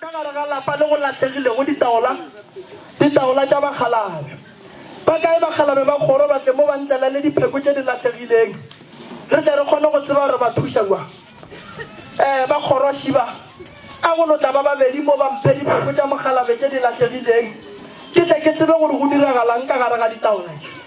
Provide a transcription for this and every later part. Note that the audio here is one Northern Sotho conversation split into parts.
Ka gare ga lapa le go lahlegilego ditaola, ditaola tša bakgalabje. Ba kae bakgalabje ba kgoro ba tle mo ba ntlalele dipheko tše di lahlegileng re tle re kgone go tseba gore ba thuša kwa? Ee, ba kgoro šiba. A go no tla ba babedi mo ba mphe dipheko tša mokgalabje tše di lahlegileng ke tle ke tsebe gore go diragalang ka gare ga ditaola tše.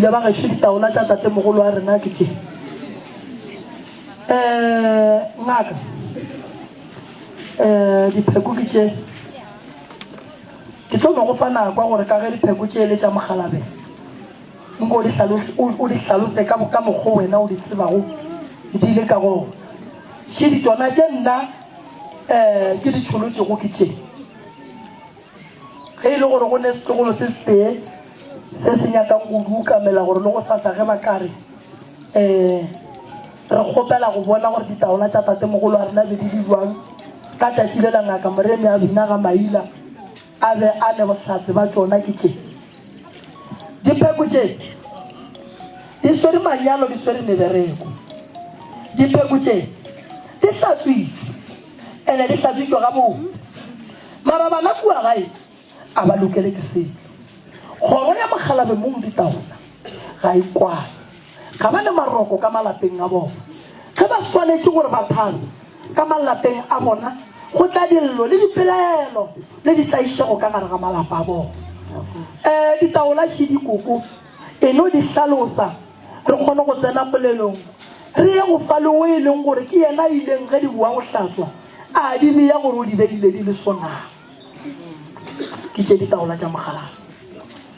ile ba gaešo ditaola tša tatemogolo wa rena ke ke um eh, ngaka um eh, dipheko ke tše ke tlo no go fa nakwa gore ka ge dipheko tše e le tša mogalabe Nko o di hlalose, o, o di hlalose ka, ka mokgo wena o di tsebago di le ka gona. Še di tšona tše nna um ke di tšholotšego ke tše. Ge e le gore go ne setlogolo se setee se se nyakang go dukamela gore le go sasa ge ba ka re um re kgopela go bona gore ditaola tša tatemogolo a rena be di le jwang ka tšatši le la ngaka moremi a bina ga maila a be a ne bohlatse ba tšona ke tše Dipheko tše di swere manyalo, di swere mebereko. Dipheko tše di hlatswitšwe, ene di hlatswitšwe gabotse. Mara bana kua gae a ba lokele ke selo. Kgoro ya mokgalabemong ditaola ga e kwane. ga ba le maroko ka malapeng a bona. Ge ba swanetše gore ba thabe ka malapeng a bona, go tla dillo le dipelaelo le ditlaišego ka gare ga malapa a bona. E, ditaola še dikoko e no di hlalosa, re kgone go tsena polelong. Re ye go fa le o e leng gore ke yena a ileng ge di boa go hlatswa a di beya gore o di beile di le swonang. Ke tše ditaola tša mogalala.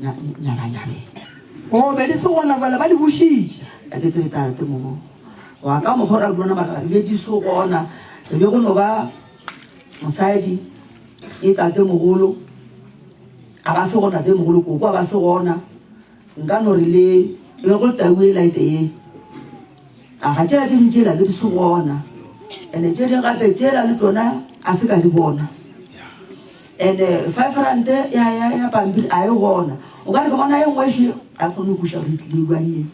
nyabanyabeng o be di se gona bala ba di bušitše ka ke tsebe tate mogo wa ka mogora le bona mara be di se gona re be go no ba mosadi e tate mogolo a ba se gona tate mogolo koko a ba se gona nka no re le e go taue laete ye A ga tša ding tšela le di se gona? Ene tše ding gape tšela le tona a se ka di bona. Ene five rand ya ya ya pampiri a e gona. O ka re ke bona e nngwe še a kgone go kuša gore tlile ba ye.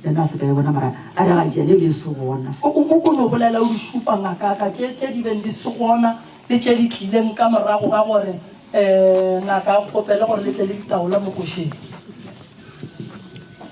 Lena se ka e bona mara a re ga tšele be se gona. O o ko no bolela o di šupa ngaka ka tše tše di beng di se gona le tše di tlileng ka morago ga gore eh ngaka a kgopele gore le tle le ditaola mo košeng.